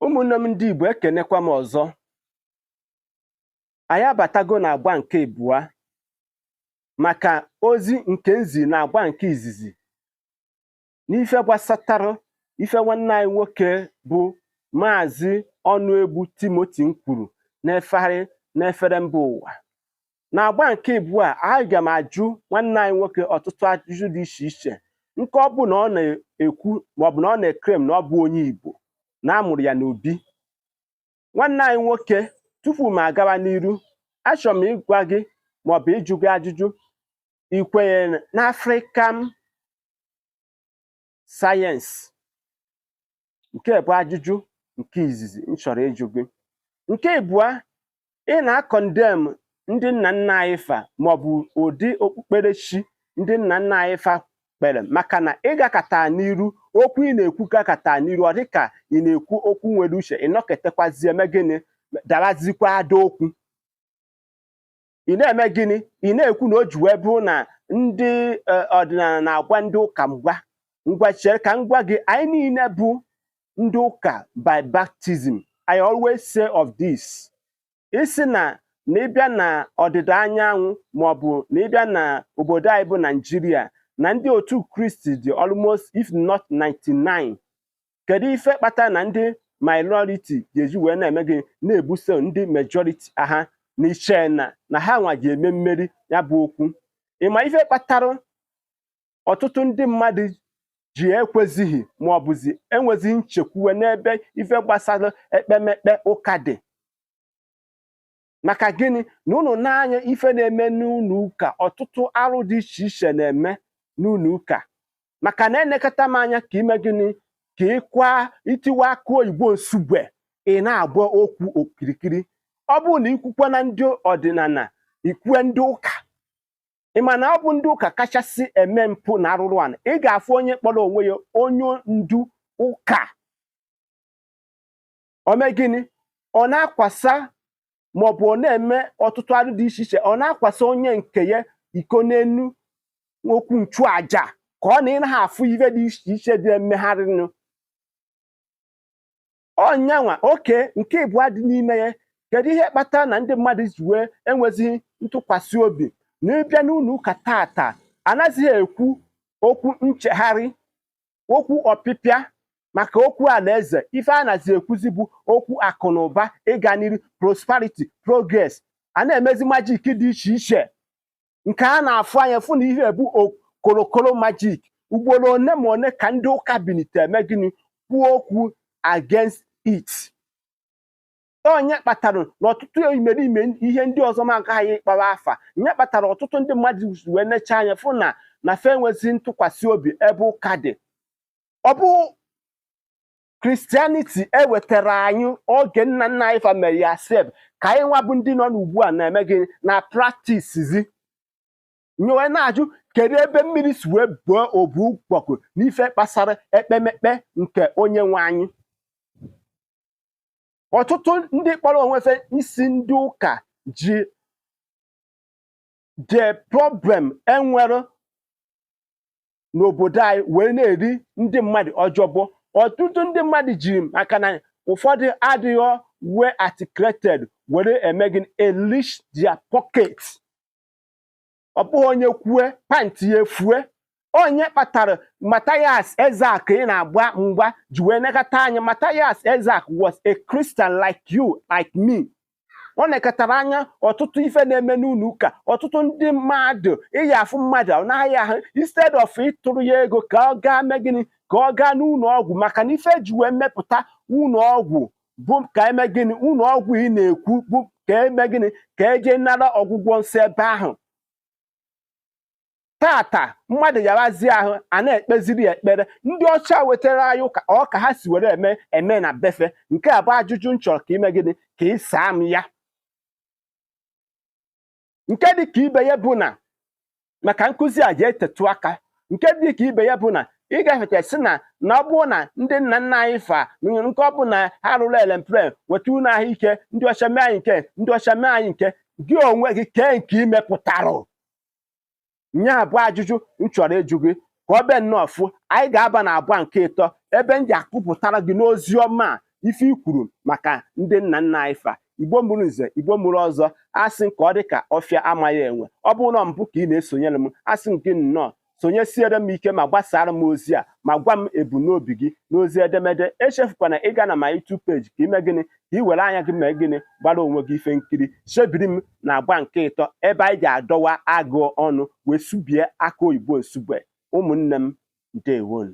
ụmụnne m ndị Igbo ekenekwa m ọzọ anyị abatago na agba nke abụọ maka ozi nke m zi na agba nke izizi n'ife gbasatara ife nwanne anyị nwoke bụ maazị Ọnụegbu Timothy kwuru na-efegharị n'efere mba ụwa na agba nke ịbụa aga m ajụ nwanne anyị nwoke ọtụtụ ajụjụ dị iche iche nke ọ bụ na ọ na-ekwu maọbụ na ọ na-eclaim na ọ bụ onye Igbo na amụrụ ya n'obi nwanne anyị nwoke tupu m agawa n'iru achọrọ m ịgwa gị maọbụ ịjụ gị ajụjụ i kwenye na African science nke bụ ajụjụ nke izizi m chọrọ ịjụ gị nke ịbụa ị na-acondemn ndị nna nna anyị fa maọbụ ụdị okpukperechi ndị nna nna anyị fa kpere maka na ị gakata n'iru okwu ị na-ekwu gakata n'iru ọ dịka ị na-ekwu okwu nwere uche ị nọkatakwazie eme gịnị darazikwa ada okwu ị na-eme gịnị ị na-ekwu na o ji wee bụrụ na ndị e, ọdịnala na-agba ndị ụka mgba ngwa chere ka m gwa gị anyị niile bụ ndị ụka by baptism I always say of this ị sị na na ịbịa na ọdịda anyanwụ maọbụ na ịbịa na obodo anyị bụ Naijiria na ndị otu Kristi dị almost if not 99 kedu ife kpatara na ndị minority ga-eji wee na-eme gị na-ebuso ndị majority aha na-eche na na ha nwa ga-eme mmeri ya bụ okwu ịma ife kpatara ọtụtụ ndị mmadụ ji ekwezighị ma ọ bụzi enwezighị nchekwuwe n'ebe ife gbasara ekpemekpe ụka dị maka gịnị na unu na-anya ife na-eme n'ụnọ ụka ọtụtụ arụ dị iche iche na-eme n'ụnọ ụka maka na enekọta m anya ka ime gịnị ka ịkwa itiwa akụ oyibo Nsugbe ị na-agba okwu okirikiri ọ bụrụ na ikwukwe na ndị ọdịnana ikwue ndị ụka ị ma na ọ bụ ndị ụka kachasị eme mpụ na arụrụ ana ị ga-afụ onye kpọrọ onwe ya onye ndu ụka o mee gịnị ọ na-akwasa maọbụ ọ na-eme ọtụtụ arụ dị iche iche ọ na-akwasa onye nke ya iko n'enu okwu nchụaja ka ọ na ị naghị afụ ife dị iche iche dị emegharịnụ ọ nya nwa okay nke ịbụa dị n'ime ya kedu ihe kpatara na ndị mmadụ ji wee enwezighị ntụkwasị obi na ịbịa n'ụnọ ụka tata anaghịzị ekwu okwu nchegharị okwu ọpịpịa maka okwu alaeze ife a nazi ekwuzi bụ okwu akụ na ụba ịga n'iru prosperity progress a na-emezi magic dị iche iche nke a na-afụ anya fụ na ihe bụ korokoro magic ugboro one ma one ka ndị ụka binite eme gịnị kwuo okwu against it ọ nye kpatara na ọtụtụ imerime ihe ndị ọzọ m agaghị ịkpọwa afa nye kpatara ọtụtụ ndị mmadụ wee necha anya fụ na na fe enwezi ntụkwasị obi ebe ụka dị ọ bụ Christianity ewetara anyị oge nna nna anyị fa mere ya sef ka anyị nwa bụ ndị nọ n'ugbu a na-eme gịnị na-practisezi nye wee na-ajụ kedu ebe mmiri si wee buo obu ụgbọgụ n'ife kpasara ekpemekpe nke onye nwe anyị ọtụtụ ndị kpọrọ onwe fe isi ndị ụka ji the problem enwere n'obodo anyị wee na-eri ndị mmadụ job ọtụtụ ndị mmadụ ji maka na ụfọdụ adịghị well articulated were eme gịnị enrich their pocket ọ bụghị onye kwue pantị ya efue ọ nye kpatara Matthias Ezeaku ị na-agba mgba ji wee nekata anya Matthias Ezeaku was a Christian like you like me ọ nekatara anya ọtụtụ ife na-eme n'ụlọ ụka ọtụtụ ndị mmadụ ị ya-afụ mmadụ ọ na-aya ahụ instead of ịtụrụ ya ego ka ọ gaa mee gịnị ka ọ gaa n'ụlọ ọgwụ maka na ife eji wee mepụta ụlọ ọgwụ bụ ka eme gịnị ụlọ ọgwụ ị na-ekwu bụ ka eme gịnị ka eje nara ọgwụgwọ nsọ ebe ahụ taata mmadụ yawazie ahụ a na-ekpeziri ya ekpere ndị ọcha wetara anyị ụka ọ ka ha si were eme na be fe nke a bụ ajụjụ m chọrọ ka ime gịnị ka ị saa m ya nke dị ka ibe ya bụ na maka nkụzi a ja-etetụ aka nke dị ka ibe ya bụ na ị ga-efeta sị na na ọ bụrụ na ndị nna nna anyị fa nke ọ bụ na ha rụrụ aeroplane nweta ụlọ ahụike ndị ọcha mee anyị nke ndị ọcha mee anyị nke gị onwe gị kee nke i mepụtara nya bụ ajụjụ m chọrọ ịjụ gị ka ọ be nnọọ fụ anyị ga-aba na agba nke ịtọ ebe m ja-akụpụtara gị n'ozi ọma a ife i kwuru maka ndị nna nna anyị fa igbo mụrụ nze igbo mụrụ ọzọ asị ka ọ dị ka ọfịa amaghị enwe ọ bụrụ na mbụ ka ị na-esonyere m asị m gị nnọọ sonyesiere m ike ma gbasara m ozi a ma gwa m ebumnobi gị n'ozi edemede echefukwana ịga na my YouTube page ka ime gịnị ka i were anya gị mee gịnị gbara onwe gị ife nkiri sobiri m na agba nke ịtọ ebe anyị ja-adọwa agụ ọnụ wee subie aka oyibo nsugbe ụmụnne m ndewonu